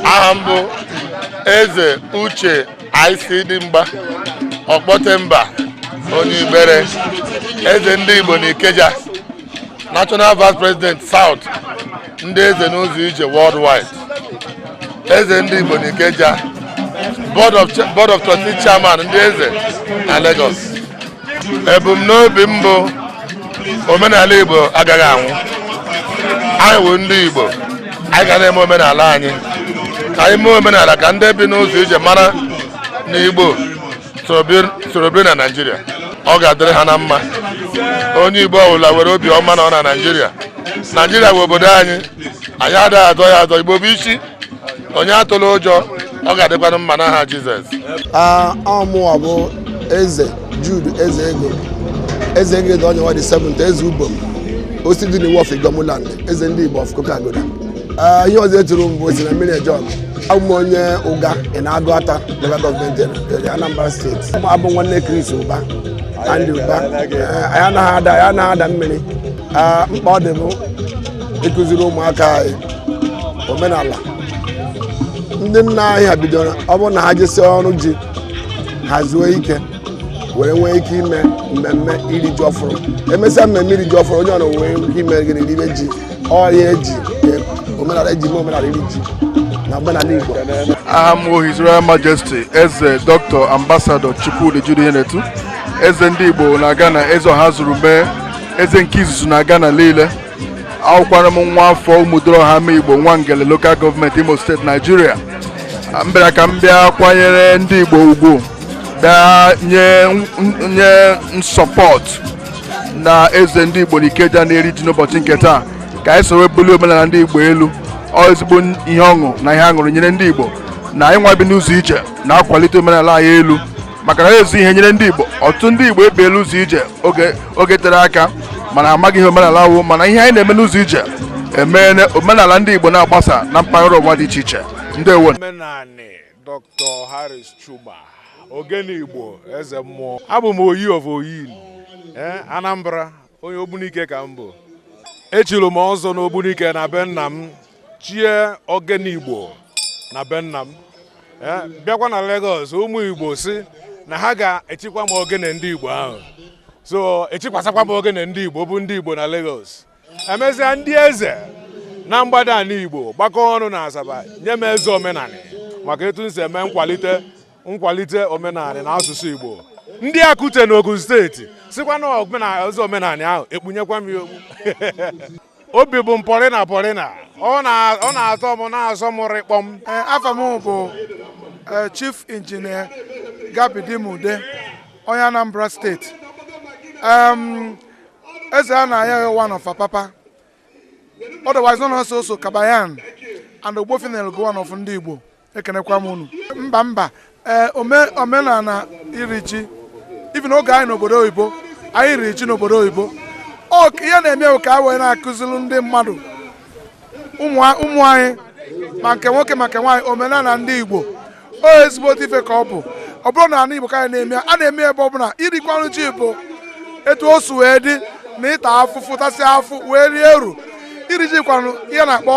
aha mbụ eze uche i.c. dimgba ọkpọtemba onye ibere eze ndị igbo n'ikeja national vice president south ndị eze n'ụzọ ije worldwide eze ndị igbo n'ikeja board of trustees chairman ndị eze na lagos ebumnobi mbụ omenala Igbo agaghị anwụ anyị wụ ndị Igbo anyị ga na-eme omenala anyị ka anyị mee omenala ka ndị bi n'ụzọ ije mara na Igbo soro biri na Naịjirịa ọ ga-adịrị ha na mma onye Igbo ọbụla were obi ọma nọọ na Naịjirịa Naịjirịa wụ obodo anyị anyị adịghị azọ ya azọ Igbo bụ isi onye atụla ụjọ ọ ga-adịkwanụ mma n'aha Jizọs ọ mụwa bụ eze Jude eze ego eze ego dị onye nwa dị 7 eze ubom osi dị n'iwu of Igbomuland eze ndị Igbo of Kokagoda ihe ọzọ eturu m bụ osi na mmiri ejọg abụ m onye Uga na Aguata local gọọmenti eria Anambra steeti abụ m nwanne Chris Uba Andy Uba anyị anaghị ada mmiri mkpa ọ dị bụ ịkụziri ụmụaka anyị omenala ndị nna anyị ha bidoro ọ bụrụ na ha jesie ọrụ ji ha zuo ike were nwee ike ime mmemme iri ji ọfụrụ emesịa mmemme iri ji ọfụrụ onye ọrụ nwee ike ime gịnị ribe ji ọ ya eji omenala eji eme omenala iri ji na omenala igbo aha m bụ His Royal Majesty eze Dr. Ambassador Chukwudi Jude Ihenetu eze ndị Igbo na Ghana eze Ọhazurume eze nke izuzu na Ghana niile awụkwara m nwa afọ Umuduruoha Amaigbo Nwangele lokal gọọmenti Imo steeti Naijiria m bịara ka m bịa kwanyere ndị Igbo ugwu bịa nye nye support na eze ndị Igbo n'Ikeja na-eri ji n'ụbọchị nke taa ka anyị soro bulie omenala ndị Igbo elu ọ ezigbo ihe ọṅụ na ihe aṅụrị nyere ndị Igbo na anyị nwa bi n'ụzọ ije na-akwalite omenala anyị elu maka na ezi ihe nyere ndị Igbo ọtụtụ ndị Igbo ebiela ụzọ ije oge tere aka mana amaghị ihe omenala wụ mana ihe anyị na-eme n'ụzọ ije emeela omenala ndị Igbo na-agbasa na mpaghara ụwa dị iche iche ndeewo omenanị Dr. Harris Chuma Ogene Igbo eze mmụọ abụ m oyi of oyi eh, Anambra onye ogbunike ka m bụ echiri m ọzọ n'ogbunike na be nna m chie ogene igbo na be nna m eh, bịakwa na Lagos ụmụ igbo sị na ha ga-echikwa m ogene ndị igbo ahụ so echikwasakwa m ogene ndị igbo bụ ndị igbo na Lagos emesịa ndị eze na mgbada anị igbo gbakọ ọnụ na asaba nye m eze omenanị maka etu m si eme nkwalite nkwalite omenala na asụsụ Igbo ndị Akute n'Ogun steeti sikwa na omenala omenala ahụ ekpunyekwa m ya okpu obi bụ m pọrịna pọrịna ọ na-atọ m na-asọ m rịkpọm eh, afa m bụ eh, chief injinia Gab Dimude onye Anambra steeti eze a na ya one of Apapa otherwise known as oso kabayan and ogbofina go one of ndị Igbo ekenekwa m unu mba mba ee omenala iri ji even oge anyị nọ obodo oyibo anyị riri ji n'obodo oyibo ihe na-eme ka a wee na-akụziri ndị mmadụ ụmụ anyị ma nke nwoke ma nke nwaanyị omenala ndị igbo ọ ezigbo ife ka ọ bụ ọ bụrọ na ala igbo ka anyị na-eme a na-eme ebe ọ bụla irikwanụ ji bụ etu o si wee dị na ịta afụfụ tasị afụ wee rie uru iri ji kwanụ ihe a na-akpọ